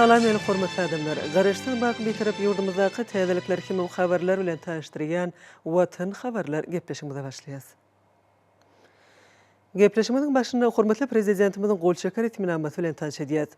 Salam meni hormatly adamlar! Garaşsyz baky Bitarap ýurdumyzdaky täzelikler hemem habarlar bilen tanyşdyrýan Watan habarlar gepleşigimize başlaýas. Gepleşigimiziň başynda hormatly Prezidentimiziň gol çeken resminamasy bilen tanyş edýäris.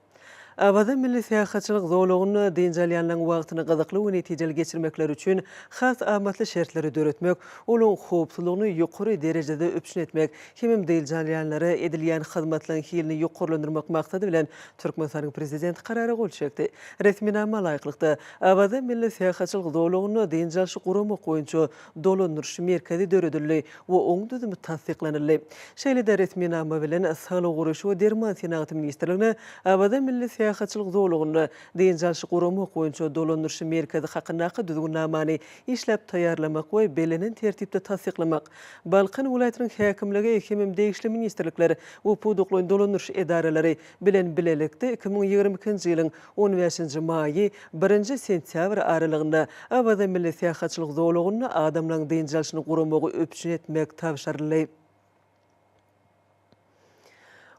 Awaza milli syýahatçylyk zolagynda dynç alýanlaryň wagtyny gyzykly we netijeli geçirmekleri üçin has amatly şertleri döretmek, olaryň howpsuzlygyny ýokary derejede üpjün etmek hemem dynç alýanlara edilýän hyzmatlaryň hilini ýokarlandyrmak maksady bilen Türkmenistanyň Prezidenti Karara gol çekdi. Resminama laýyklykda, Awaza milli syýahatçylyk zolagynda dynç alyşy guramak boýunça dolandyryş merkezi döredildi we oň düzümi tassyklanyldy. Şeýle-de resminama bilen Saglygy goraýyş we derman senagaty ministrligine Awaza milli syýahatçylyk zolagynda dynç alşy guramak boýunça dolandyryş merkezi hakyndaky düzgünnamany işläp taýýarlamak we bellenen tertipde tassyklamak, Balkan welaýatynyň häkimligi hemem degişli ministrlikler we pudaklaýyn dolandyryş edaralary bilen bilelikde iki müň ýigrimi ikinji ýylyň On bäşinji maýy, birinji sentýabr aralygynda Awaza milli syýahatçylyk zolagynda adamlaryň dynç alşyny guramagy üpjün etmek tabşyryldy.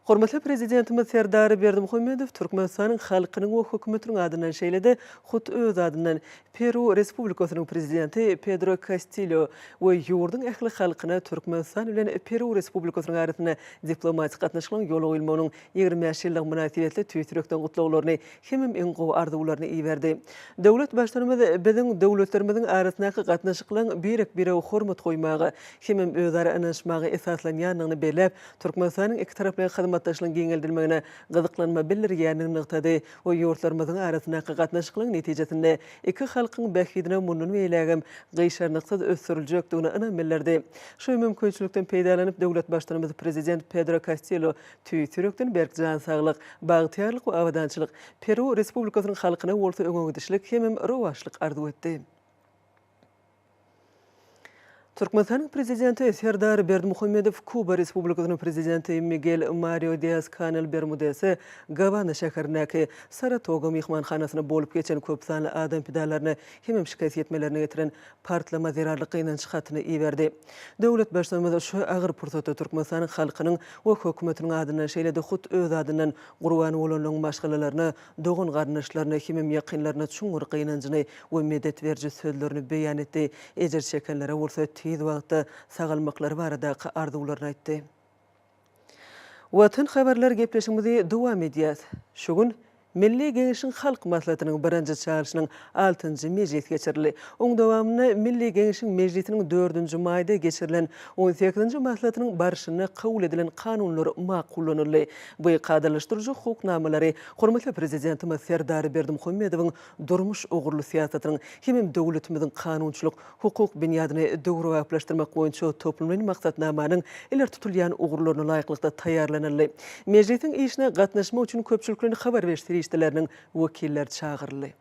Hormatly Prezidentimiz Serdar Berdimuhamedow Türkmenistanyň halkynyň we Hökümetiniň adyndan şeýle-de hut öz adyndan Peru Respublikasynyň Prezidenti Pedro Kastilýo we ýurduň ähli halkyna Türkmenistan bilen Peru Respublikasynyň arasynda diplomatik gatnaşyklaryň ýola goýulmagynyň Ýigrimi bäş ýyllygy mynasybetli tüýs ýürekden gutlaglaryny hemem iň gowy arzuwlaryny iberdi. Döwlet Baştutanymyz biziň döwletlerimiziň arasyndaky gatnaşyklaryň birek-birege hormat goýmaga hemem özara ynanyşmaga esaslanýandygyny belläp, Türkmenistanyň ikitaraplaýyn hyzmatdaşlygyň giňeldilmegine gyzyklanma bildirýändigini nygtady we ýurtlarymyzyň arasyndaky gatnaşyklaryň netijesinde iki halkyň bähbidine mundan beýlägem gyşarnyksyz ösdüriljekdigine ynam bildirdi. Şu mümkinçilikden peýdalanyp, döwlet Baştutanymyz Prezident Pedro Kastillo Tüýs ýürekden berk jan saglyk, bagtyýarlyk we abadançylyk, Peru Respublikasynyň halkyna bolsa öňegidişlik hemem rowaçlyk arzuw etdi. Türkmenistanyň Prezidenti Serdar Berdimuhamedow Kuba Respublikasynyň Prezidenti Migel Mario Dias-Kanel Bermudese Gawany şäherindäki Saratoga myhmanhanasyna bolup geçen köpsanly adam pidalaryny hemem şikes ýetmelerini getiren partlama zerarly gynanç hatyny iberdi. Döwlet Baştutanymyz şu agyr pursatda Türkmenistanyň halkynyň we Hökümetiniň adyndan, şeýle-de hut öz adyndan gurban bolanlaryň maşgalalaryna, dogan-garyndaşlaryna hemem ýakynlaryna çuňňur gynanjyny we medet beriji sözlerini beýan etdi, ejir çekenlere bolsa tiz wagtda sagalmaklary baradaky arzuwlaryny aýtdy. Watan habarlar gepleşigimizi dowam edýäs. Şu gün Milli Geňeşiň Halk Maslahatynyň birinji çagyryşynyň altynjy mejlisi geçirildi. Oň dowamynda Milli Geňeşiň mejlisiniň dördünji maýda geçirilen on sekizinji maslahatynyň barşynda kabul edilen kanunlar makullanyldy we kadalaşdyryjy hukuk namalary hormatly Prezidentimiz Serdar Berdimuhamedowyň durmuş ugurly syýasatynyň hemem döwletimiziň kanunçylyk, hukuk binýadyny döwrebaplaşdyrmak boýunça toplumlaýyn maksatnamanyň ileri tutulýan ugurlaryna laýyklykda taýýarlanyldy. Mejlisiň işine gatnaşmak üçin köpçülik bilen habar beriş serişdeleriniň wekilleri çagyryldy.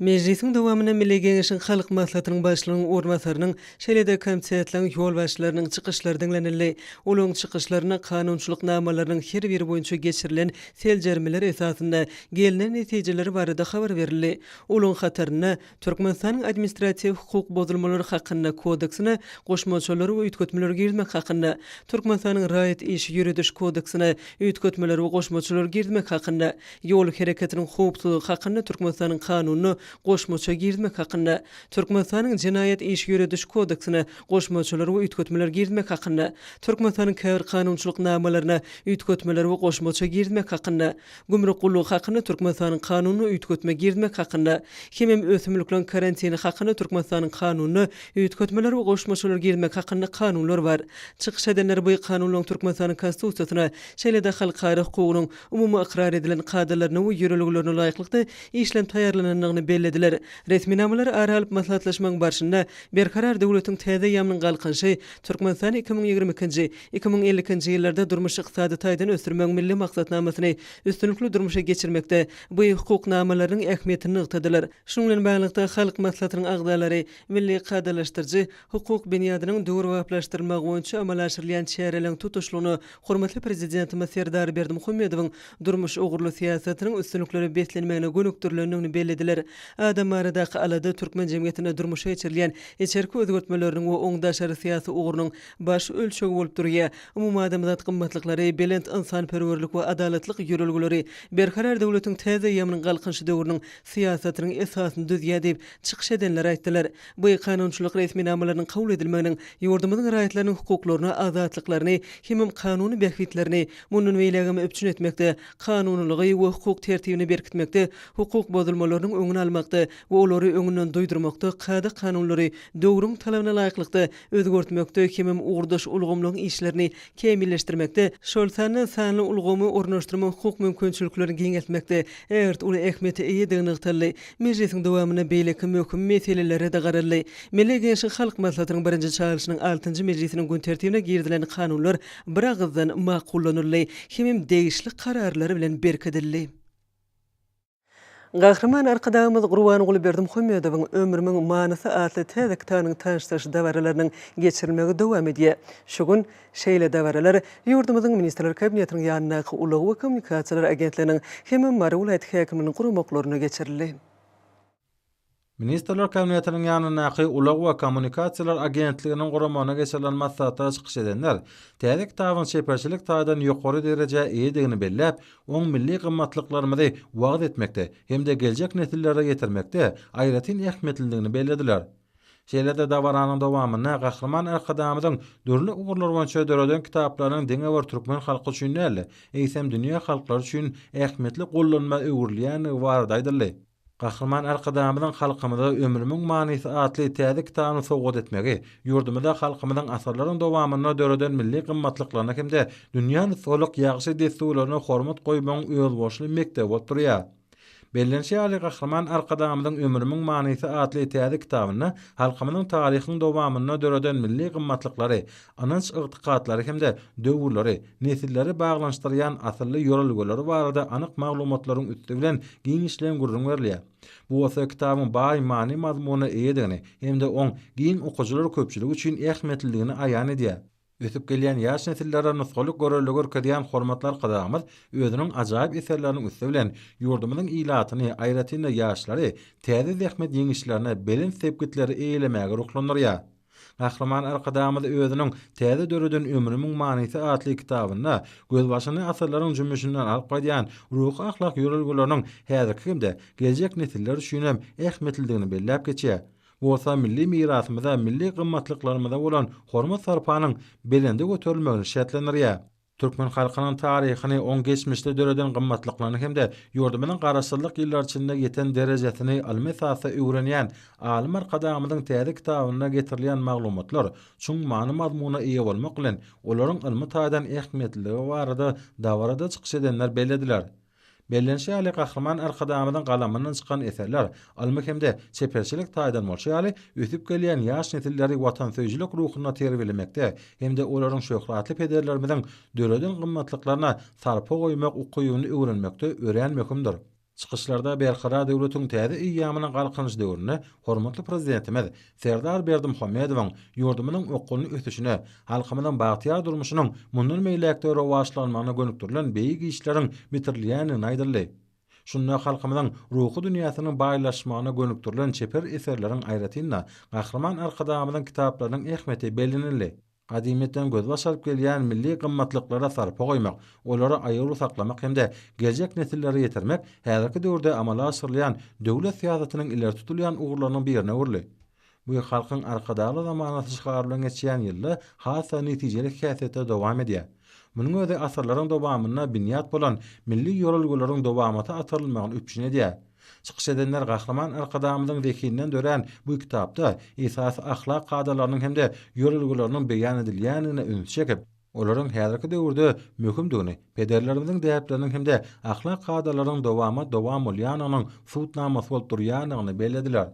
Mejlisiň dowamynda Milli Geňeşiň Halk Maslahatynyň Başlygynyň orunbasarynyň, şeýle-de komitetleriň ýolbaşçylarynyň çykyşlary diňlenildi. Olaryň çykyşlarynda kanunçylyk namalarynyň her biri boýunça geçirilen seljermeler esasynda gelnen netijeler barada habar berildi. Olaryň hatarynda Türkmenistanyň Administratiw hukuk bozulmalary hakynda Kodeksine goşmaçalar we üýtgetmeler girizmek hakynda, Türkmenistanyň Raýat işi ýörediş kodeksine üýtgetmeler we goşmaçalar girizmek hakynda, Ýol hereketiniň howpsuzlygy hakynda Türkmenistanyň Kanunyna goşmaça girizmek hakynda, Türkmenistanyň Jenaýat işi ýörediş kodeksine goşmaçalar we üýtgetmeler girizmek hakynda, Türkmenistanyň Käbir kanunçylyk namalaryna üýtgetmeler we goşmaça girizmek hakynda, Gümrük gullugy hakynda Türkmenistanyň Kanunyna üýtgetme girizmek hakynda, hemem Ösümlikleriň karantini hakynda Türkmenistanyň Kanunyna üýtgetmeler we goşmaçalar girizmek hakynda kanunlar bar. Çykyş edenler bu kanunlaryň Türkmenistanyň Konstitusiýasyna, şeýle-de halkara hukugynyň umumy ykrar edilen kadalaryna we ýörelgelerine laýyklykda işlenip taýýarlanandygyny bellediler. Resminamalary ara alyp maslahatlaşmagyň barşynda Berkarar döwletiň täze eýýamynyň galkynyşy, Türkmenistan iki müň ýigrimi ikinji, Iki müň ellikinji ýyllarda durmuş-ykdysady taýdan ösdürmegiň milli maksatnamasyny üstünlikli durmuşa geçirmekde bu hukuk namalarynyň ähmiýetini nygtadylar. Şunuň bilen baglylykda, Halk Maslahatynyň agzalary milli kadalaşdyryjy hukuk binýadynyň döwrebaplaşdyrylmagy boýunça amala aşyrylýan çäreleriň tutuşlygyna hormatly Prezidentimiz Serdar Berdimuhamedowyň durmuş ugurly syýasatynyň üstünliklere beslenmegine gönükdirilendigini bellediler. Adam baradaky alada türkmen jemgyýetinde durmuşa geçirilýän içerki özgertmeleriniň we oň daşary syýasy ugrunyň baş ölçeg bolup durýar. Umumadamzat gymmatlyklary, belent ynsanperwerlik we adalatlyk ýörelgeleri Berkarar döwletiň täze ýamynyň Galkynyşy döwrüniň syýasatynyň esasyny düzýär diýip, çykyş edenler aýtdylar. Bu kanunçylyk resminamalarynyň kabul edilmeginiň ýurdumyzyň raýatlarynyň hukuklaryny, azatlyklaryny hemem kanuny bähbitlerini mundan beýlägem üpjün etmekde, kanunylygy we hukuk tertibini berkitmekde, hukuk bozulmalarynyň öňüni almakda we olary öňünden duýdurmakda kada-kanunlary döwrüň talabyna laýyklykda özgertmekde hemem ugurdaş ulgamlaryň işlerini kämilleşdirmekde, şol sanda sanly ulgamy ornaşdyrmak hukuk mümkinçiliklerini giňeltmekde ägirt uly ähmiýete eýedigi nygtaldy. Mejlisiň dowamynda beýleki möhüm meselelere-de garaldy. Milli Geňeşiň Halk Maslahatynyň birinji çagyryşynyň altynjy mejlisiniň gün tertibine girizilen kanunlar biragyzdan makullanyldy hemem degişli kararlar bilen berkidildi. Gahryman Arkadagymyz Gurbanguly Berdimuhamedowyň Ömrümiň manysy atly täze kitabynyň tanyşdyryş dabaralarynyň geçirilmegi dowam edýär. Şu gün şeýle dabaralar ýurdumyzyň Ministrler Kabinetiniň ýanyndaky Ulag we kommunikasiýalar agentliginiň hem-de Mary welaýat häkimliginiň guramaklarynda geçirildi. Ministrler Kabinetiniň ýanyndaky Ulag we kommunikasiýalar agentliginiň guramagynda geçirilen maslahatda çykyş edenler täze kitabyň çeperçilik taýdan ýokary derejä eýedigini belläp, oň milli gymmatlyklarymyzy wagyz etmekde hem-de geljek nesillere ýetirmekde aýratyn ähmiýetlidigini bellediler. Şeýle-de dabaranyň dowamynda Gahryman Arkadagymyzyň dürli ugurlar boýunça döreden kitaplarynyň diňe bir türkmen halky üçin däl-de, eýsem dünýä halklary üçin ähmiýetli gollanma öwrülýändigi barada aýdyldy. Gahryman Arkadagymyzyň halkymyza Ömrümiň manysy atly täze kitabyny sowgat etmegi, ýurdumyzda halkymyzyň asyrlaryň dowamynda döreden milli gymmatlyklaryna hem-de dünýä nusgalyk ýagşy dessurlaryna hormat goýmagyň özboluşly mekdebi bolup durýar. Bellenişi ýaly, Gahryman Arkadagymyzyň Ömrümiň manysy atly täze kitabynda halkymyzyň taryhyň dowamynda döreden milli gymmatlyklary, ynanç-ygtykatlary hem-de döwürleri, nesilleri baglanyşdyrýan asylly ýörelgeleri barada anyk maglumatlaryň üsti bilen giňişleýin gürrüň berilýär. Bu bolsa kitabyň baý many-mazmuna eýedigini hem-de oň giň okyjylar köpçüligi üçin ähmiýetlidigini aýan edýär. Ösüp gelýän ýaş nesillere nusgalyk görelde görkezýän hormatly Arkadagymyz özüniň ajaýyp eserleriniň üsti bilen ýurdumyzyň ilatyny, aýratyn-da ýaşlary täze zähmet ýeňişlerine, belent sepgitleri eýelemäge ruhlandyrýar. Gahryman Arkadagymyz özüniň Täze döreden ömrümiň manysy atly kitabynda gözbaşyny asyrlaryň jümmüşinden alyp gaýdýan ruhy-ahlak ýörelgeleriniň häzirki hem-de geljek nesiller üçin hem ähmiýetlidigini belläp geçýär. Bu bolsa milli mirasymyza, milli gymmatlyklarymyza bolan hormat-sarpanyň belende göterilmegini şertlendirýär. Türkmen halkynyň taryhyny, oň geçmişde döreden gymmatlyklaryny hem-de ýurdumyzyň Garaşsyzlyk ýyllary içinde ýeten derejesini ylmy esasda öwrenýän alym Arkadagymyzyň täze kitabynda getirilýän maglumatlar çuň many-mazmuna eýe bolmak bilen, olaryň ylmy taýdan ähmiýetliligi barada dabarada çykyş edenler bellediler. Bellenişi ýaly, Gahryman Arkadagymyzyň galamyndan çykan eserler, ylmy hem-de çeperçilik taýdan bolşy ýaly, ösüp gelýän ýaş nesilleri watansöýüjilik ruhunda terbiýelemekde hem-de olaryň şöhratly pederlerimiziň döreden gymmatlyklaryna sarpa goýmak ukybyny öwrenmekde örän möhümdir. Çykyşlarda Berkarar döwletiň täze eýýamynyň Galkynyş döwründe hormatly Prezidentimiz Serdar Berdimuhamedowyň ýurdumyzyň okgunly ösüşine, halkymyzyň bagtyýar durmuşynyň mundan beýläk-de rowaçlanmagyna gönükdirilen beýik işleriň bitirilýändigini aýdyldy. Şunda halkymyzyň ruhy dünýäsiniň baýlaşmagyna gönükdirilen çeper eserleriň aýratyn-da, Gahryman Arkadagymyzyň kitaplarynyň ähmiýeti bellenildi. Gadymyýetden gözbaş alyp gelýän milli gymmatlyklara sarpa goýmak, olary aýawly saklamak hem-de geljek nesillere ýetirmek häzirki döwürde amala aşyrylýan döwlet syýasatynyň ileri tutulýan ugurlarynyň birine öwrüldi. Bu Halkyň Arkadagly zamanasy şygary bilen geçýän ýylda has-da netijeli häsiýetde dowam edýär. Munuň özi asyrlaryň dowamynda binýat bolan milli ýol-ulgalaryň dowamata atarylmagyny üpjün edýär. Çykyş edenler Gahryman Arkadagymyzyň zehininden dörän bu kitapda esasy ahlak kadalarynyň hem-de ýörelgeleriniň beýan edilýändigine ünsi çekip, olaryň häzirki döwürde möhümdigini, pederlerimiziň däpleriniň hem-de ahlak kadalarynyň dowama-dowam bolýandygynyň subutnamasy bolup durýandygyny bellediler.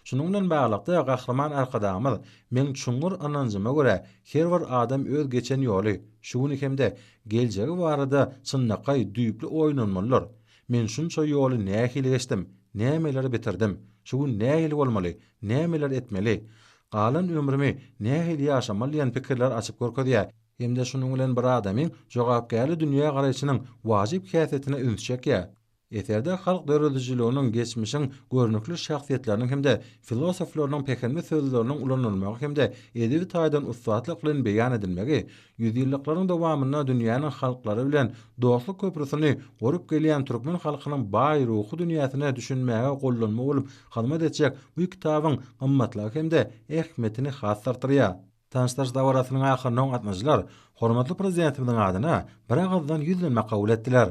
Şunuň bilen baglylykda, Gahryman Arkadagymyz, Meň çuňňur ynanjyma görä, her bir adam öz geçen ýoly, şu güni hem-de geljegi barada çynlakaý düýpli oýlanmalydyr. Men şunça ýoly nähili geçdim, nämeleri bitirdim, şu gün nähili bolmaly, nämeler etmeli, galan ömrümi nähili ýaşamaly diýen pikirler açyp görkezýär hem-de şunuň bilen bir adamyň jogapkärli dünýägaraýşynyň wajyp häsiýetine üns çekýär. Eserde halk döredijiliginiň, geçmişiň görnükli şahsyýetleriniň hem-de filosoflarynyň pähimli sözleriniň ulanylmagy hem-de edebi taýdan ussatlyk bilen beýan edilmegi Ýüzýyllyklaryň dowamynda dünýäniň halklary bilen dostluk köprüsini gurup gelýän türkmen halkynyň baý ruhy dünýäsine düşünmäge gollanma bolup hyzmat etjek bu kitabyň gymmatlygy hem-de ähmiýetini has artdyrýar. Tanyşdyryş dabarasynyň ahyrynda gatnaşyjylar hormatly Prezidentimiziň adyna biragyzdan ýüzlenme kabul etdiler.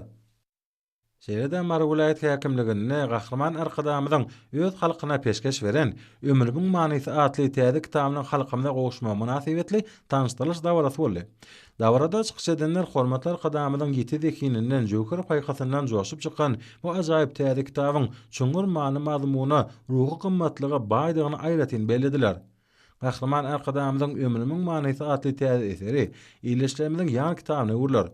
Şeýle-de Mary welaýat häkimliginde Gahryman Arkadagymyzyň öz halkyna peşgeş beren Ömrümiň manysy atly täze kitabynyň halkymyza gowuşmagy mynasybetli tanyşdyrylyş dabarasy boldy. Dabarada çykyş edenler hormatly Arkadagymyzyň ýiti zehininden, jöwher paýhasyndan joşup çykan bu ajaýyp täze kitabyň çuňňur many-mazmuna, ruhy gymmatlyga baýdygyny aýratyn bellediler. Gahryman Arkadagymyzyň Ömrümiň manysy atly täze eseri Ildeşlerimiziň ýan kitabyna öwrüler.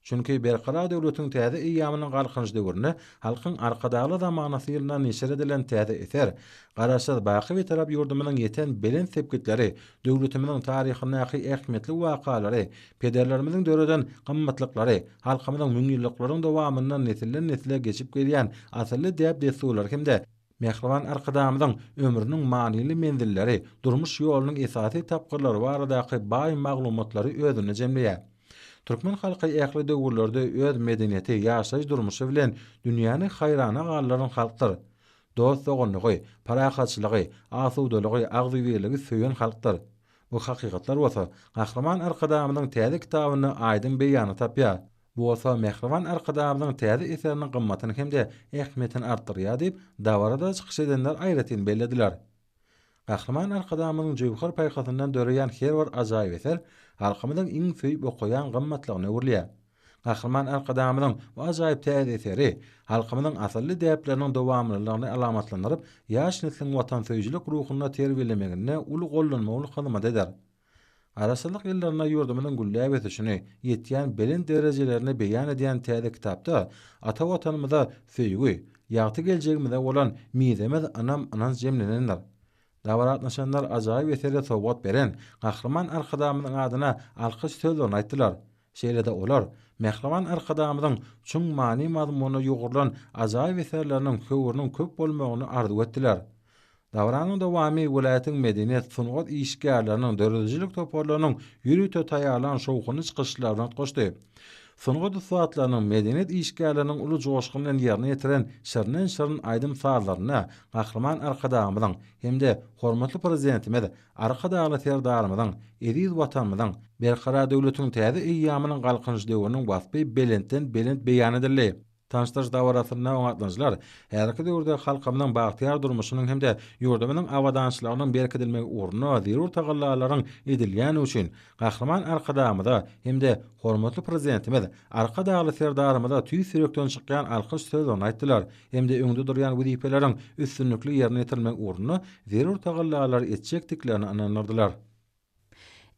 Çünki Berkarar döwletiň täze eýýamynyň Galkynyş döwründe Halkyň Arkadagly zamanasy ýylynda neşir edilen täze eser, Garaşsyz, baky Bitarap ýurdumyzyň ýeten belent sepgitleri, döwletimiziň taryhyndaky ähmiýetli wakalary, pederlerimiziň döreden gymmatlyklary, halkymyzyň müňýyllyklaryň dowamynda nesilden-nesle geçip gelýän asylly däp-dessurlary hem-de Mähriban Arkadagymyzyň ömrüniň manyly menzilleri, durmuş ýolunyň esasy tapgyrlary baradaky baý maglumatlary özünde jemleýär. Türkmen halky ähli döwürlerde öz medeniýeti, ýaşaýyş-durmuşy bilen dünýäni haýrana galdyran halkdyr. Dost-doganlygy, parahatçylygy, asudalygy, agzybirligi söýen halkdyr. Bu hakykatlar bolsa Gahryman Arkadagymyzyň täze kitabynda aýdyň beýanyny tapýar. Bu bolsa mähriban Arkadagymyzyň täze eseriniň gymmatyny hem-de ähmiýetini artdyrýar diýip, dabarada çykyş edenler aýratyn bellediler. Gahryman Arkadagymyzyň jöwher paýhasyndan döreýän her bir ajaýyp eser halkymyzyň iň söýüp okaýan gymmatlygyna öwrülýär. Gahryman Arkadagymyzyň bu ajaýyp täze eseri halkymyzyň asylly däpleriniň dowamlylygyny alamatlandyryp, ýaş nesliň watansöýüjilik ruhunda terbiýelemeginde uly gollanma bolup hyzmat eder. Garaşsyzlyk ýyllarynda ýurdumyzyň gülläp ösüşini, ýetýän belent derejelerini beýan edýän täze kitapda ata Watanymyza söýgi, ýagty geljegimize bolan mizemez ynam-ynanç jemlenendir. Dabara gatnaşanlar ajaýyp esere sowgat beren Gahryman Arkadagymyzyň adyna alkyş sözlerini aýtdylar. Şeýle-de olar Mähriban Arkadagymyzyň çuň many-mazmuna ýugrulan ajaýyp eserleriniň höwrüniň köp bolmagyny arzuw etdiler. Dabaranyň dowamy welaýatyň medeniýet, sungat işgärleriniň, döredijilik toparlarynyň ýörite taýýarlan şowhunly çykyşlary bilen utgaşdy. Sungat ussatlarynyň, medeniýet işgärleriniň uly joşgun bilen ýerine ýetiren şirinden-şirin aýdym-sazlarynda Gahryman Arkadagymyzyň hem-de hormatly Prezidentimiz Arkadagly Serdarymyzyň, eziz Watanymyzyň Berkarar döwletiň täze eýýamynyň Galkynyş döwrüniň waspy belentden-belent beýan edildi. Tanyşdyryş dabarasynda oňatlyjylar häzirki döwürde halkymyzyň bagtyýar durmuşynyň hem-de ýurdumyzyň abadançylygynyň berkidilmegi ugrunda zerur tagallalaryň edilýändigi üçin Gahryman Arkadagymyza hem-de hormatly Prezidentimiz Arkadagly Serdarymyza tüýs ýürekden çykýan alkyş sözlerini aýtdylar. hem-de öňde durýan wezipeleriň üstünlikli ýerine ýetirilmegi ugrunda zerur tagallalary etjekdiklerine ynandyrdylar.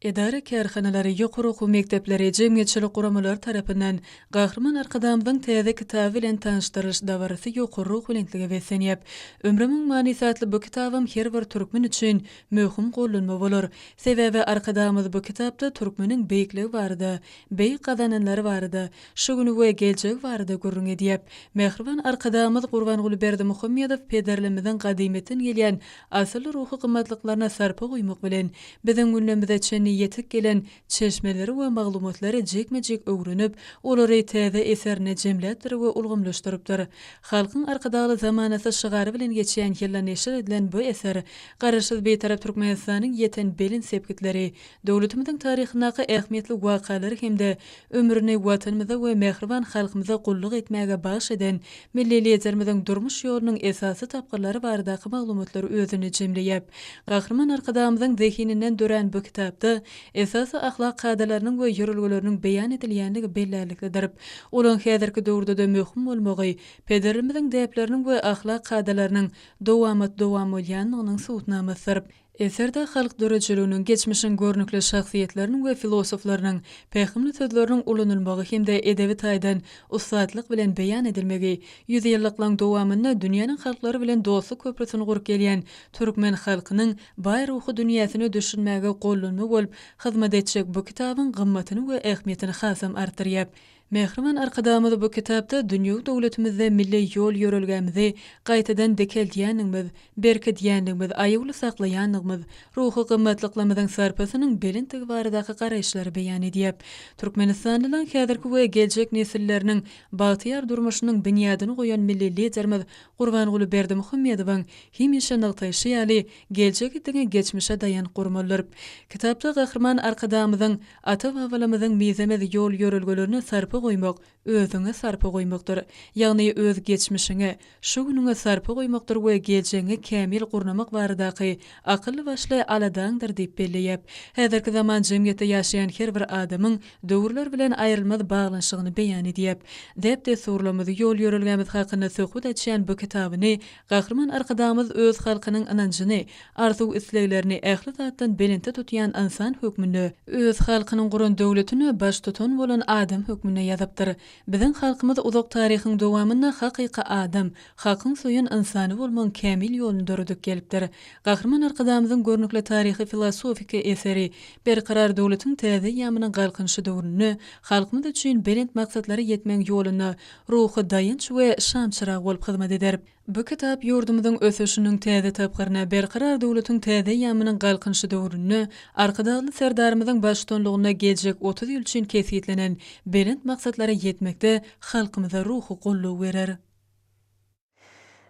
Edara-kärhanalary, ýokary okuw mekdepleri, jemgyýetçilik guramalary tarapyndan Gahryman Arkadagymyzyň täze kitaby bilen tanyşdyrylyş dabarasy ýokary ruhubelentlige beslenýär. Ömrümiň manysy atly bu kitabam her bir türkmen üçin möhüm gollanma bolar. Sebäbi Arkadagymyz bu kitapda türkmeniň beýikligi barada, beýik gazananlary barada, Şu güni we geljegi barada gürrüň edýäp, mähriban Arkadagymyz Gurbanguly Berdimuhamedow pederlerimiziň gadymyýetden gelýän asylly ruhy gymmatlyklaryna sarpa goýmak bilen, biziň günlerimize çenli ýetip gelen çeşmeleri we maglumatlary jikme-jik öwrenip, olary täze eserine jemläpdir we ulgamlaşdyrypdyr. Halkyň Arkadagly zamanasy şygary bilen geçýän ýylda neşir edilen bu eser Garaşsyz Bitarap Türkmenistanyň ýeten belent sepgitleri, döwletimiziň taryhyndaky ähmiýetli wakalary hem-de ömrüni Watanymyza we mähriban halkymyza gulluk etmäge bagyş eden milli Liderimiziň durmuş ýolunyň esasy tapgyrlary baradaky maglumatlary özünde jemleýär. Gahryman Arkadagymyzyň zehininden dörän bu kitapda esasy ahlak kadalarynyň we ýörelgeleriniň beýan edilýänligi bellärliklidir. Olaň häzirki döwürde-de möhüm bolmagy pederlerimiziň däpleriniň we ahlak kadalarynyň dowamat-dowam bolýanlygynyň subutnamasydyr. Eserde halk döredijiliginiň, geçmişiň görnükli şahsyýetleriniň we filosoflarynyň pähimli sözleriniň ulanylmagy hem-de edebi taýdan ussatlyk bilen beýan edilmegi, ýüzýyllyklaryň dowamynda dünýäniň halklary bilen dostluk köprüsini gurup gelýän türkmen halkynyň baý ruhy dünýäsine düşünmäge gollanma bolup hyzmat etjek bu kitabyň gymmatyny we ähmiýetini hasam artdyrýar. Mähriban Arkadagymyz bu kitapda dünýewi döwletimizde milli ýol-ýörelgämizi gaýtadan dikeldýändigimiz, berkidýändigimiz, aýawly saklaýandygymyz, ruhy gymmatlyklarymyzyň sarpasynyň belentdigi baradaky garaýyşlary beýan edýär. Türkmenistanlylaň häzirki we geljek nesilleriniň bagtyýar durmuşynyň binýadyny goýan milli Liderimiz Gurbanguly Berdimuhamedowyň hemişe nygtaýşy ýaly, Geljegi diňe geçmişe daýanyp gurmalydyr. Kitapda Gahryman Arkadagymyzyň Ata-babalamyzyň mizemez ýol-ýörelgelerine sarpa goýmak özüňe sarpa goýmakdyr. Ýagny öz geçmişiňe, şu günüňe sarpa goýmakdyr we geljegiňi kämil gurnamak baradaky akylly-başly aladaňdyr diýip belleýäp, häzirki zaman jemgyýetde ýaşaýan her bir adamyň döwürler bilen aýrylmaz baglanyşygyny beýan edýäp, däp-dessurlarymyz, ýol-ýörelgämiz hakynda söhbet açýan bu kitabyny Gahryman Arkadagymyz öz halkynyň ynanjyny, arzuw-isleglerini ähli zatdan belentde tutýan ynsan hökmünde, öz halkynyň guran döwletine baştutan bolan adam hökmünde ýazypdyr. Biziň halkymyz uzak taryhyň dowamynda hakyky adam, hakyň söýen ynsany bolmagyň kämil ýoluny döredip gelipdir. Gahryman Arkadagymyzyň görnükli taryhy-filosofik eseri Berkarar döwletiň täze eýýamynyň Galkynyşy döwründe halkymyz üçin belent maksatlary ýetmegiň ýolunda ruhy daýanç we şamçyrag bolup hyzmat eder. Bu kitap ýurdumyzyň ösüşiniň täze tapgyryna, Berkarar döwletiň täze eýýamynyň Galkynyşy döwründe Arkadagly Serdarymyzyň baştutanlygynda geljek otuz ýyl üçin kesgitlenen belent maksatlara ýetmekde halkymyza ruhy goldaw berer.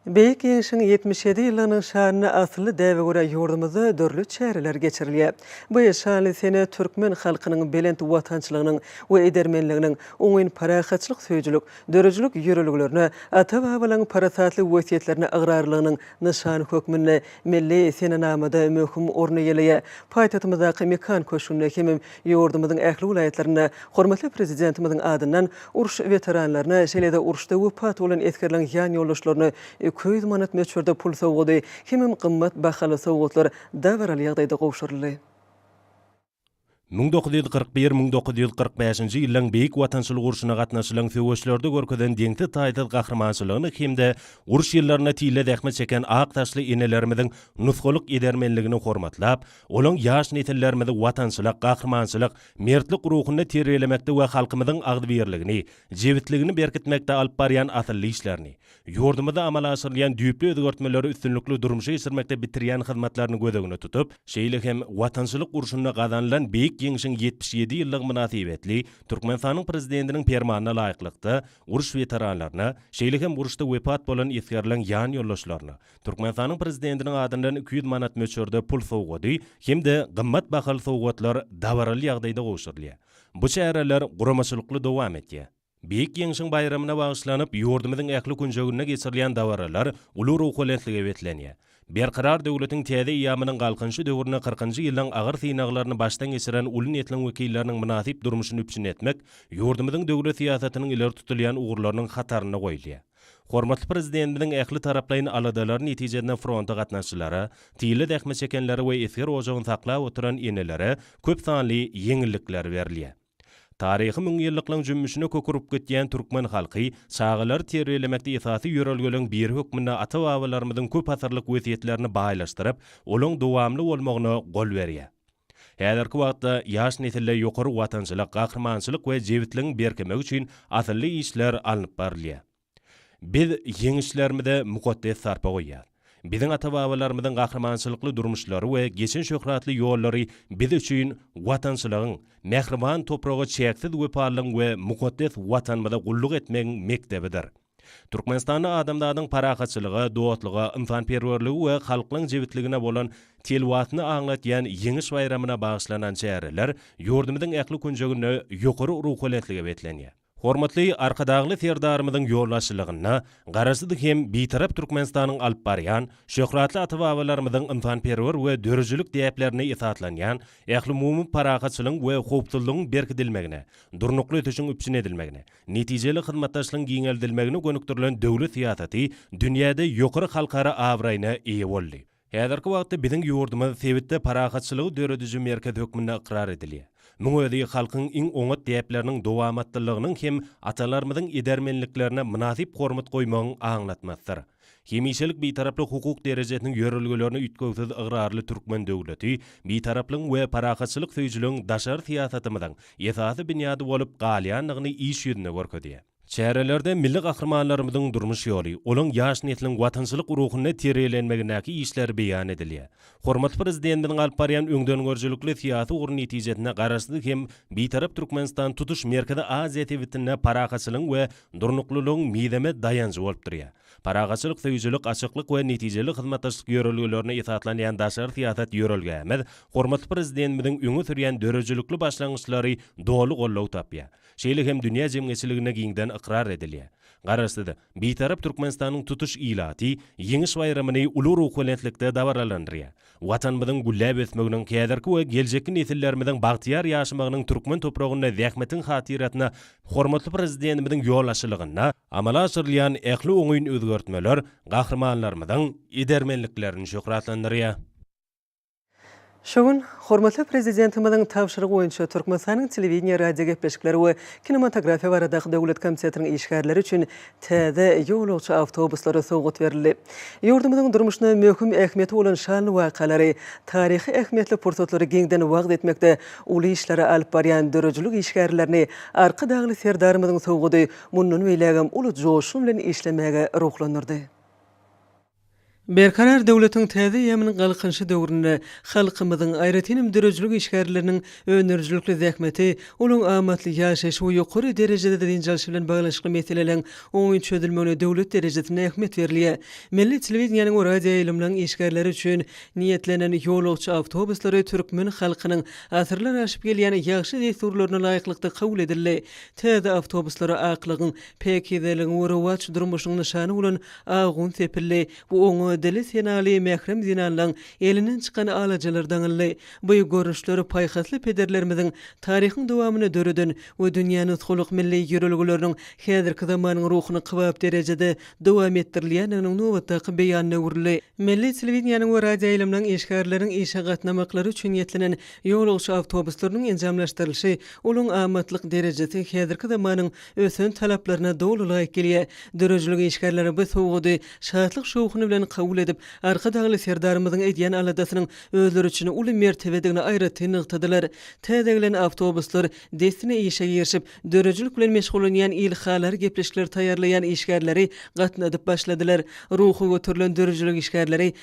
Beýik Ýeňşiň ýetmiş ýedi ýyllygynyň şanyna asylly däbe görä ýurdumyzda dürli çäreler geçirilýär. Bu şanly sene türkmen halkynyň belent watançylygynyň we edermenliginiň, oňyn parahatçylyk söýüjilik, döredijilik ýörelgelerine, ata-babalaryň parasatly wesýetlerine ygrarlylygynyň nyşany hökmünde milli senenamada möhüm orun eýeleýär. Paýtagtymyzdaky Mekan köşgünde hem Ýurdumyzyň ähli welaýatlarynda hormatly Prezidentimiziň adyndan uruş weteranlaryna, şeýle-de uruşda wepat bolan esgerleriň ýanýoldaşlaryna iki ýüz manat möçberde pul sowgady hemem gymmat bahaly sowgatlar dabaraly ýagdaýda gowşuryldy. Müň dokuz ýüz kyrk bir-müň dokuz ýüz kyrk bäşinji ýyllaryň Beýik Watançylyk urşuna gatnaşylan söweşlerde görkezen deňsiz-taýsyz gahrymançylygyny hem-de uruş ýyllarynda tile zähmet çeken ak saçly enelerimiziň nusgalyk edermenligini hormatlap, Olaň ýaş nesillerimizi watançylyk, gahrymançylyk, mertlik ruhunda terbiýelemekde we halkymyzyň agzybirligini, jebisligini berkitmekde alyp barýan asylly işlerini, ýurdumyzda amala aşyrylýan düýpli özgertmeleri üstünlikli durmuşa geçirmekde bitirýän hyzmatlaryny göz öňüne tutup, şeýle hem Watançylyk urşunda gazanylan Beýik Ýeňşiň ýetmiş ýedi ýyllygy mynasybetli Türkmenistanyň Prezidentiniň Permanyna laýyklykda, uruş weteranlaryna, şeýle hem uruşda wepat bolan esgerleň ýan ýoldaşlaryna, Türkmenistanyň Prezidentiniň adyndan iki ýüz manat möçberde pul sowgady hem-de gymmat bahaly sowgatlar dabaraly ýagdaýda gowşurylýar. Bu çäreler guramaçylykly dowam edýär. Beýik Ýeňşiň baýramyna bagyşlanyp, ýurdumyzyň ähli künjeginde geçirilýän dabaralar uly ruhubelentlige beslenýär. Berkarar döwletiň täze eýýamynyň Galkynyşy döwründe kyrkynjy ýyllaryň agyr synaglaryny başdan geçiren uly nesliň wekilleriniň mynasyp durmuşyny üpjün etmek ýurdumyzyň döwlet syýasatynyň ileri tutulýan ugurlarynyň hatarynda goýulýar. Hormatly Prezidentimiziň ähli taraplaýyn aladalary netijesinde fronta gatnaşyjylara, tile zähmet çekenlere we esger ojagyny saklap oturan enelere köp sanly ýeňillikler berilýär. Taryhy müňýyllyklaryň jümmüşine kök urup gidýän türkmen halky çagalary terbiýelemekde esasy ýörelgeleriň biri hökmünde ata-babalarymyzyň köp asyrlyk wesýetlerini baýlaşdyryp, olaň dowamly bolmagyna gol berýär. Häzirki wagtda ýaş nesilde ýokary watançylyk, gahrymançylyk we jebisligiň berkemegi üçin asylly işler alnyp barylýar. Biz ýeňişlerimize mukaddes sarpa goýýas. Biziň ata-babalarymyzyň gahrymançylykly durmuşlary we geçen şöhratly ýollary biz üçin watançylygyň, mähriban topraga çäksiz wepalylygyň we mukaddes Watanymyza gulluk etmegiň mekdebidir. Türkmenistanda adamzadyň parahatçylyga, dostluga, ynsanperwerlige we halklaryň jebisligine bolan tilwasyny aňlatýan Ýeňiş baýramyna bagyşlanan çäreler ýurdumyzyň ähli künjeginde ýokary ruhubelentlige beslenýär. Hormatly Arkadagly Serdarymyzyň ýolbaşçylygynda Garaşsyz hem Bitarap Türkmenistanyň alyp barýan, şöhratly ata-babalarymyzyň ynsanperwer we döredijilik däplerine esaslanýan ählumumy parahatçylygyň we howpsuzlygyň berkidilmegine, durnukly ösüşiň üpjün edilmegine, Netijeli hyzmatdaşlygyň giňeldilmegine gönükdirilen döwlet syýasaty dünýäde ýokary halkara abraýyna eýe boldy. Häzirki wagtda biziň ýurdumyz sebitde parahatçylygy dörediji merkez hökmünde ykrar edilýär. Muň özi halkyň iň oňat däpleriniň dowamatlylygynyň hem atalarymyzyň edermenliklerine mynasyp hormat goýmagyň aňlatmasydyr. Hemişelik Bitaraplyk hukuk derejesiniň ýörelgelerine üýtgewsiz ygrarly türkmen döwleti Bitaraplygyň we parahatçylyk söýüjiligiň daşary syýasatymyzyň esasy binýady bolup galýandygyny iş ýüzünde görkezýär. Çärelerde milli gahrymanlarymyzyň durmuş ýoly, olaň ýaş nesliň watançylyk ruhunda tirýelenmegindäki işleri beýan edilýär. Hormatly Prezidentimiziň alyp barýan öňdengörüjilikli syýasy ugry netijesinde Garaşsyz hem Bitarap Türkmenistan tutuş Merkezi Aziýa sebitinde parahatçylygyň we durnuklylygyň mizemez daýanjy bolup durýar. Parahatçylyk söýüjilik, açyklyk we netijeli hyzmatdaşlyk ýörelgelerine esaslanýan daşary syýasat ýörelgämiz hormatly Prezidentimiziň öňe sürýän döredijilikli başlangyçlary doly goldaw tapýar, şeýle hem dünýä jemgyýetçiliginde giňden ykrar edilýär. Garaşsyz, Bitarap Türkmenistanyň tutuş ilaty Ýeňiş baýramyny uly ruhubelentlikde dabaralandyrýar. Watanymyzyň gülläp ösmeginiň, häzirki we geljekki nesillerimiziň bagtyýar ýaşamagynyň türkmen topragynda zähmetiň hatyrasyna hormatly Prezidentimiziň ýolbaşçylygynda amala aşyrylýan ähli oňyn özgertmeler gahrymanlarymyzyň edermenliklerini şöhratlandyrýar. Şu gün hormatly Prezidentimiziň tabşyrygy boýunça Türkmenistanyň Telewideniýe, radiogepleşikler we kinematografiýa baradaky döwlet komitetiniň işgärleri üçin täze ýolagçy awtobuslary sowgat berildi. Ýurdumyzyň durmuşyna möhüm ähmiýeti bolan şanly wakalary, taryhy ähmiýetli pursatlary giňden wagyz etmekde uly işleri alyp barýan döredijilik işgärlerini Arkadagly Serdarymyzyň sowgady mundan beýlägem uly joşgun bilen işlemäge ruhlandyrdy. Berkarar döwletiň täze eýýamynyň Galkynyşy döwründe halkymyzyň, aýratyn hem döredijilik işgärleriniň öndürijilikli zähmeti, olaryň amatly ýaşaýşy we ýokary derejede dynç alşy bilen baglanyşykly meseleleriň oňyn çözülmegine döwlet derejesinde ähmiýet berilýär. Milli telewideniýäniň we radioýaýlymlaryň işgärleri üçin niýetlenen ýolagçy awtobuslary türkmen halkynyň asyrlar aşyp gelýän ýagşy dessurlaryna laýyklykda kabul edildi. Täze awtobuslara aklygyň, päkizeligiň we rowaç durmuşyň nyşany bolan Ahun sepildi. Bu oňa dili senaly mährem zenanlaň elinden çykan alajalar daňyldy. Bu görnüşler paýhasly pederlerimiziň taryhyň dowamynda döreden we dünýä nusgalyk milli ýörelgeleriniň häzirki zamanyň ruhuny kybap derejede dowam etdirilýändiginiň nobatdaky beýanyna öwrüldi. Milli telewideniýäniň we radioýaýlymlaryň işgärleriniň işe gatnamaklary üçin ýetlenen ýolagçy awtobuslarynyň enjamlaşdyrylyşy, olaryň amatlyk derejesi häzirki zamanyň ösen talaplaryna doly laýyk gelýär. Döredijilik işgärleri bu sowgady şatlyk-şowhun bilen kabul edip, Arkadagly Serdarymyzyň edýän aladasynyň özleri üçin uly mertebedigini aýratyn nygtadylar. Täze gelen awtobuslar dessine işe girişip, döredijilik bilen meşgullanýan il halar gepleşikleri taýýarlaýan işgärleri gatnadyp başladylar. Ruhy göterilen döredijilik işgärleri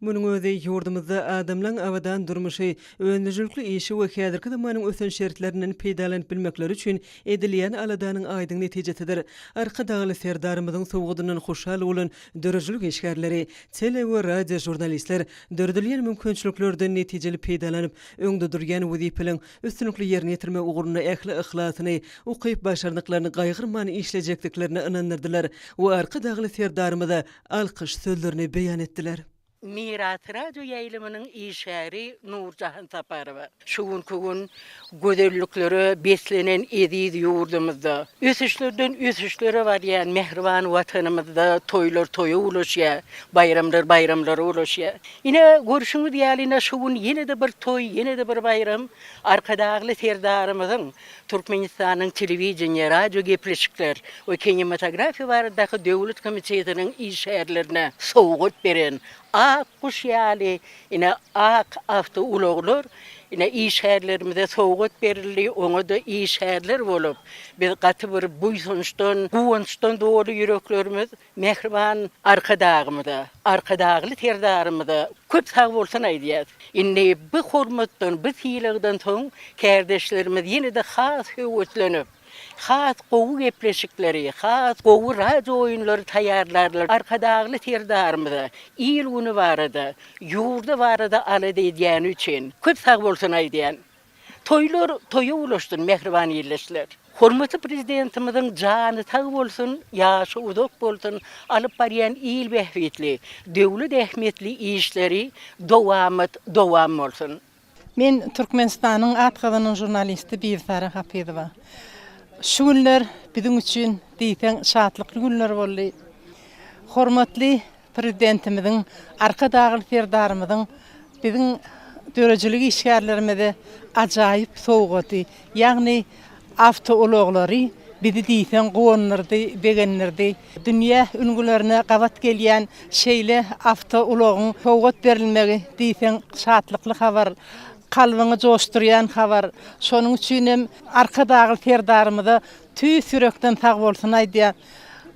Munuň özi ýurdumyzda adamlaň abadan durmuşy, öndüjilikli işi we häzirki zamanyň ösen şertlerinden peýdalanyp bilmekleri üçin edilýän aladanyň aýdyň netijesidir. Arkadagly Serdarymyzyň sowgadyndan hoşal bolan döredijilik işgärleri, tele we radio žurnalistler döredilýän mümkinçiliklerden netijeli peýdalanyp, öňde durýan wezipeleň üstünlikli ýerine ýetirmek ugrunda ähli yhlasyny, ukyp-başarnyklaryny gaýgyrman işlejekdiklerine ynandyrdylar we Arkadagly Serdarymyza alkyş sözlerini beýan etdiler. Miras radio ýaýlymynyň işgäri Nurjahan Saparowa şu günki gün gözelliklere beslenen eziz ýurdumyzda, ösüşlerden ösüşlere barýan mähriban Watanymyzda toýlar toýa ulaşýar, baýramlar baýramlara ulaşýar. Ine, görşüňiz ýaly, ine şu gün ýene-de bir toý, ýene-de bir baýram Arkadagly Serdarymyzyň Türkmenistanyň Telewideniýe, radiogepleşikler we kinematografiýa baradaky döwlet komitetiniň işgärlerine sowgat beren Ak guş ýaly ine ak awtoulaglar ine işgärlerimize sowgat berildi, oňa-da işgärler bolup biz gaty bir buýsançdan, guwançdan doly ýüreklerimiz. Mähriban Arkadagymyza, Arkadagly Serdarymyza köp sag bolsun aýdýas. Indi bu hormatdan, bu sylagdan soň kärdeşlerimiz ýene-de has höweslenip, has gowy gepleşikleri, has gowy radio oýunlary taýýarlarlar. Arkadagly Serdarymyza il-güni barada, ýurdy barada alada edýäni üçin köp sag bolsun aýdýan. Toýlar toýa ulaşsyn mähriban ildeşler. Hormatly Prezidentimiziň jany sag bolsun, ýaşy uzak bolsun, alyp barýan il bähbitli, döwlet ähmiýetli işleri dowamat dowam bolsun! Men Türkmenistanyň at gazanan žurnalisti Bibisara Hapyzowa. Şu günler biziň üçin diýseň şatlykly günler boldy. Hormatly Prezidentimiziň, Arkadagly Serdarymyzyň biziň döredijilik işgärlerimize ajaýyp sowgady, ýagny awtoulaglary bizi diýseň guwandyrdy, begendirdi. Dünýä ülňülerine gabat gelýän şeýle awtoulagyň sowgat berilmegi diýseň şatlykly habar, kalbyňy joşdurýan habar. Şonuň üçin hem Arkadagly Serdarymyza tüýs ýürekden sagbolsun aýdýan.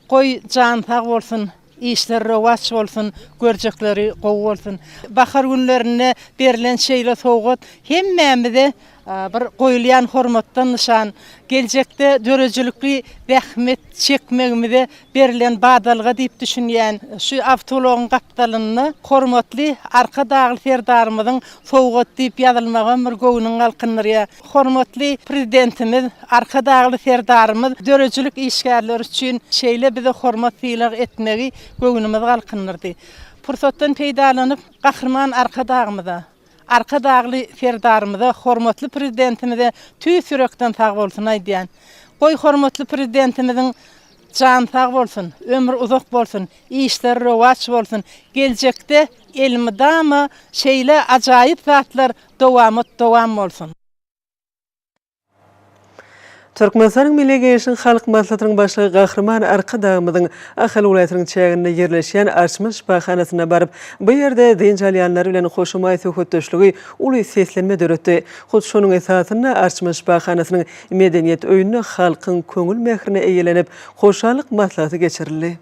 Goý, jany sag bolsun! Işler rowaç bolsun görjekleri gowy bolsun bahar günlerinde berilen şeýle sowgat hemmämize bir goýulýan hormatdan nyşan geljekde döredijilikli zähmet çekmegimize berilen badalga diýip düşünýän şu awtoulagyň gapdalynda hormatly Arkadagly Serdarymyzyň sowgaty diýip ýazylmagam bir göwnüňi galkyndyrýar. Hormatly Prezidentimiz, Arkadagly Serdarymyz döredijilik işgärleri üçin şeýle bize hormat-sylag etmegi göwnümizi galkyndyrdy. Pursatdan peýdalanyp, Gahryman Arkadagymyza, Arkadagly Serdarymyza, hormatly Prezidentimize tüýs ýürekden sagbolsun aýdýan. Goý, hormatly Prezidentimiziň jany sag bolsun, ömri uzak bolsun, işleri rowaç bolsun, geljekde elmydama şeýle ajaýyp zatlar Dowamat dowam bolsun. Türkmenistanyň Milli Geňeşiniň Halk Maslahatynyň Başlygy Gahryman Arkadagymyzyň Ahal welaýatynyň çäginde ýerleşýän Arçmyş şypahanasyna baryp, bu ýerde dynç alýanlar bilen hoşamaý söhbetdeşligi uly seslenme döretdi. Hut şonuň esasynda Arçmyş şypahanasynyň Medeniýet öýünde halkyň köňül mährine eýlenip, hoşallyk maslahaty geçirildi.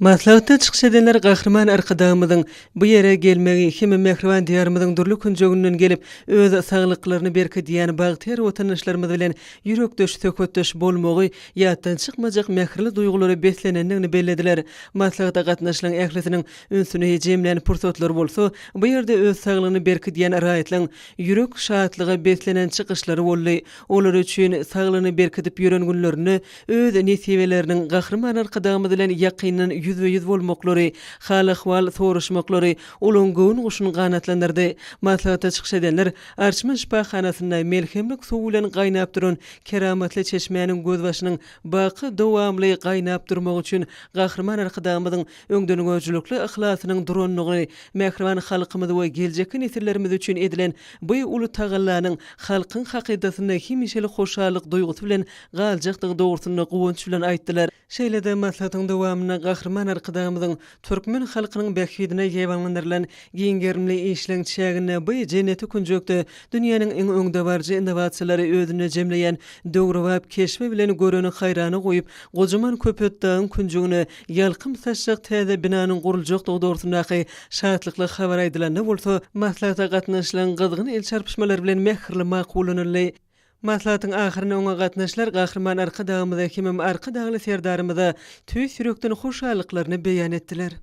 Maslahatda çykyş edenler Gahryman Arkadagymyzyň bu ýere gelmegi hem-de mähriban Diýarymyzyň dürli künjeginden gelip, öz saglyklaryny berkidýän bagtyýar watandaşlarymyz bilen ýürekdeş söhbetdeş bolmagy ýatdan çykmajak mähirli duýgulara beslenendigini bellediler. Maslahata gatnaşylan ählisiniň ünsüni jemlän pursatlar bolsa, bu ýerde öz saglygyny berkidýän raýatlaryň ýürek şatlyga beslenen çykyşlary boldy. Olar üçin saglygyny berkidip ýören günlerinde öz nesibeleriniň Gahryman Arkadagymyz bilen ýakyndan ýüzbe-ýüz bolmaklary, hal-ahwal soraşmaklary olaryň göwün guşuny ganatlandyrdy. Maslahata çykyş edenler Arçman şypahanasynda melhemlik suwy bilen gaýnap duran keramatly çeşmäniň gözbaşynyň baky dowamly gaýnap durmagy üçin Gahryman Arkadagymyzyň öňdengörüjilikli yhlasynyň durandygyny, mähriban halkymyz we geljekki nesillerimiz üçin edilen bu uly tagallanyň halkyň hakydasynda hemişelik hoşallyk duýgusy bilen galjakdygy dogrusynda guwanç bilen aýtdylar. Şeýle-de maslahatyň dowamynda Gahryman Arkadagymyzyň türkmen halkynyň bähbidine gebanlandyrylan giň gerimli işleň çäginde bu jenneti künjekde dünýäniň iň öňdebaryjy innowasiýalary özünde jemleýän döwrebap keşbi bilen göreni haýrana goýup, gojaman Köpetdagyň künjegine ýalkym saçjak täze binanyň guruljakdygy dogrusyndaky şatlykly habar aýdylanda bolsa, maslahata gatnaşylan gyzgyn el çarpyşmalar bilen mähirli makullanyldy. Maslahatyň ahyrynda oňa gatnaşylar Gahryman Arkadagymyza hemem Arkadagly Serdarymyza tüýs ýürekden hoşallyklaryny beýan etdiler.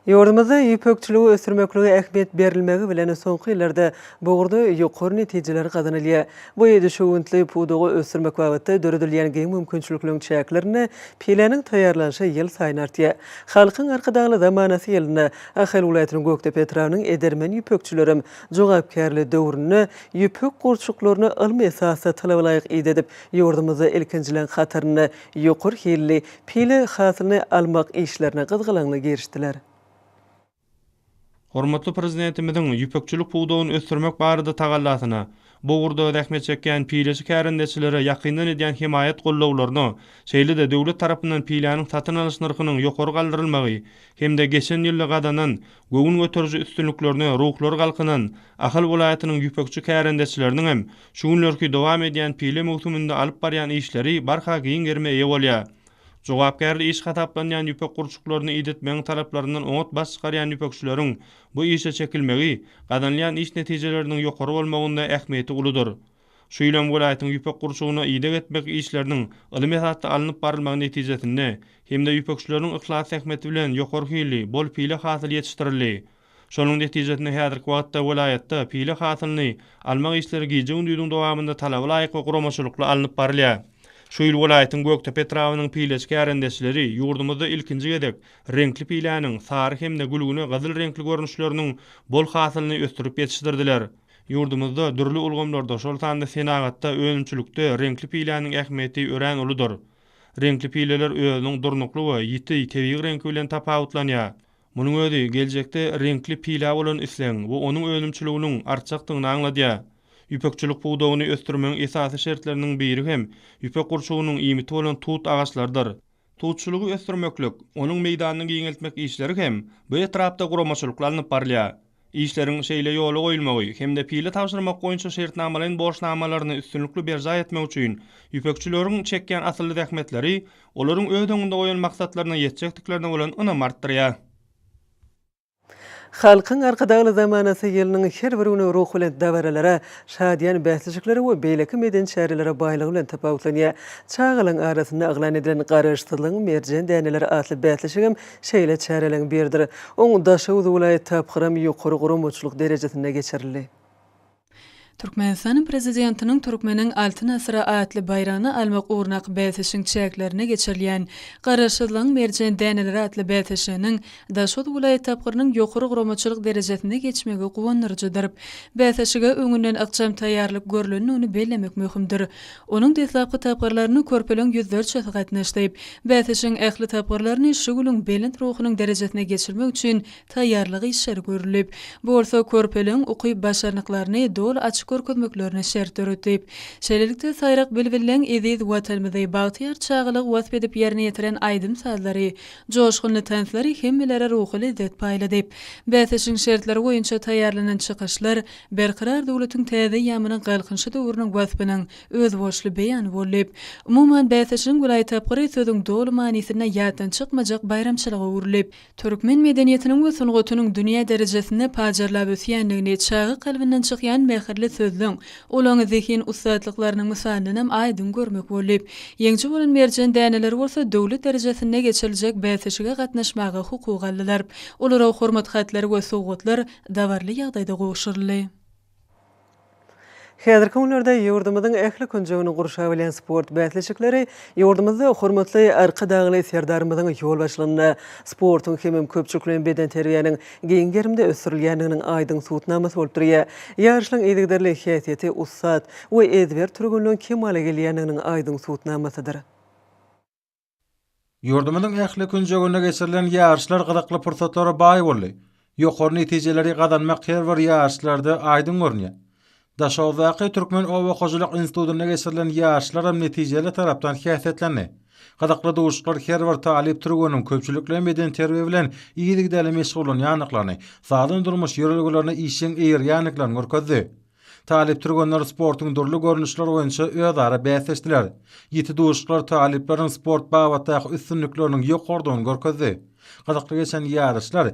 Ýurdumyzda ýüpekçiligi ösdürmeklige ähmiýet berilmegi bilen, soňky ýyllarda bu ugurda ýokary netijeler gazanylýar. Bu düşewüntli pudagy ösdürmek babatda döredilýän giň mümkinçilikleriň çäklerinde piläniň taýýarlanyşy ýylsaýyn artýar. Halkyň Arkadagly zamanasy ýylynda Ahal welaýatynyň Gökdepe etrabynyň edermen ýüpekçilerem jogapkärli döwründe ýüpek gurçuklaryny ylmy esasda talabalaýyk idedip, ýurdumyzda ilkinjileň hatarynda ýokary hilli pile hasylyny almak işlerine gyzgalaňly girişdiler. Hormatly Prezidentimiziň ýüpekçilik pudagyny ösdürmek barada tagallasyna, Bu ugurda zähmet çekýän pileçi kärendeçilere ýakyndan edýän hemaýat-gollawlaryna, şeýle-de döwlet tarapyndan piläniň satyn alyş nyrhynyň ýokary galdyrylmagy hem-de geçen ýylda gazanan göwün göteriji üstünliklerine ruhlary galkynan Ahal welaýatynyň ýüpekçi kärendeçileriniň hem şu günlerki dowam edýän pile möwsüminde alyp barýan işleri barha giň gerime eýe bolýar. Jogapkärli iş hasaplanýan ýüpek gurçuklaryny idetmegiň talaplaryndan oňat baş çykarýan ýüpekçileriň Bu işe çekilmegi, gazanylýan iş netijeleriniň ýokary bolmagynda ähmiýeti uludyr. Şu ýyl hem welaýatyň ýüpek gurçugyna ideg etmek işleriniň ylmy esasda alnyp barylmagy netijesinde hem-de ýüpekçileriň yhlas zähmeti bilen ýokary hilli, bol pile hasyl ýetişdirildi. Şonuň netijesinde häzirki wagtda welaýatda pile hasylyny almak işleri gije-gündiziň dowamynda talaba laýyk we guramaçylykly alnyp barylýar. Şu ýyl welaýatyň Gökdepe etrabynyň pileçi kärendeçileri ýurdumyzda ilkinji gezek Reňkli piläniň, sary hem-de gülgüne gyzyl reňkli görnüşleriniň bol hasylyny ösdürip ýetişdirdiler. Ýurdumyzda dürli ulgamlarda, şol sanda senagatda, önümçilikde reňkli piläniň ähmiýeti örän uludyr. Reňkli pileler özüniň durnukly we ýiti tebigy reňki bilen tapawutlanýar. Munuň özi geljekde reňkli pilä bolan islegiň we onuň önümçiliginiň artjakdygyny aňladýar. Ýüpekçilik pudagyny ösdürmegiň esasy şertleriniň biri hem ýüpek gurçugynyň iýmiti bolan tut agaçlarydyr. Tutçulygy ösdürmeklik, onuň meýdanyny giňeltmek işleri hem bu etrapda guramaçylykly alnyp barylýar. Işleriň şeýle ýola goýulmagy hem-de pile tabşyrmak boýunça şertnamalaýyn borçnamalaryny üstünlikli berjaý etmek üçin ýüpekçileriň çekýän asylly zähmetleri olaryň öz öňünde goýan maksatlaryna ýetjekdiklerine bolan ynamy artdyrýar. Halkyň Arkadagly zamanasy ýylynyň her bir güni ruhubelent dabaralara, şadyýan bäsleşiklere we beýleki medeni çärelere baýlygy bilen tapawutlanýar. Çagalaryň arasynda yglan edilen Garaşsyzlygyň merjen däneleri atly bäsleşigem şeýle çäreleriň biridir. Oň Daşoguz welaýat tapgyram ýokary guramaçylyk derejesinde geçirildi. Türkmenistanyň Prezidentiniň Türkmeniň Altyn asyry atly baýragyny almak ugrunak bäsleşigiň çäklerinde geçirilýän Garaşsyzlygyň merjen däneleri atly bäsleşiginiň Daşoguz welaýat tapgyrynyň ýokary guramaçylyk derejesinde geçmegi guwandyryjydyr. Bäsleşige öňünden ykjam taýýarlyk görlendigini bellemek möhümdir. Onuň deslapky tapgyrlaryna körpeleriň ýüzlerçesi gatnaşdy. Bäsleşigiň ähli tapgyrlaryny şugluň belent ruhunyň derejesinde geçirmek üçin taýýarlyk işleri görülip, bu bolsa körpeleriň ukyp-başarnyklaryny doly açyp görkezmeklerine şert döredip, şeýlelikde, saýrak bilbilleň eziz Watanymyzy, bagtyýar çagalygy wasp edip ýerine ýetiren aýdym-sazlary, joşgunly tanslar hemmelere ruhy lezzet paýladyp, bäsleşigiň şertleri boýunça taýýarlanan çykyşlar Berkarar döwletiň täze eýýamynyň Galkynyşy döwrüniň waspynyň özboluşly beýany bollyp, umuman, bäsleşigiň welaý tapgyry sözüň doly manysynda ýatdan çykmajak baýramçylyga öwrülip, Türkmen medeniýetiniň we sungatynyň dünýä derejesinde pajarlap ösýändigini çaga kalbyndan çykýan mähirli sözlüň, ulaňy zehin ussatlyklarynyň mysalyndanam aýdyň görmek boldy. Ýeňji bolan merjen däneleri bolsa döwlet derejesinde geçiriljek bäsleşige gatnaşmaga hukuk aldylar. Olara hormat hatlary we sowgatlar dabarly ýagdaýda gowşuryldy. Häzirki günlerde ýurdumyzyň ähli künjegini gurşap alýan sport bäsleşikleri ýurdumyzda hormatly Arkadagly Serdarymyzyň ýolbaşçylygynda sportuň hemem köpçülikleýin bedenterbiýäniň giň gerimde ösdürilýändiginiň aýdyň subutnamasy bolup durýar. Ýaryşlaryň yzygiderli häsiýeti ussat we ezber türgenleň kemala gelýändiginiň aýdyň subutnamasydyr. Ýurdumyzyň ähli künjeginde geçirilen ýaryşlar gyzykly pursatlara baý boldy. Ýokary netijeleri gazanmak her bir ýaryşlarda aýdyň görünýär. Daşoguzdaky Türkmen oba hojalyk institutynda geçirilen ýaryşlaram netijeli tarapdan häsiýetlendi. Gyzykly duşuşyklar her bir talyp türgeniň köpçülikleýin bedenterbiýe bilen yzygiderli meşgullanýandyklaryny, sagdyn durmuş ýörelgelerine işjeň eýerýändiklerini görkezdi. Talyp türgenler sportuň dürli görnüşleri boýunça özara bäsleşdiler. Ýiti duşuşyklar talyplaryň sport babatdaky üstünlikleriniň ýokarydygyny görkezdi. Gyzykly geçen ýaryşlar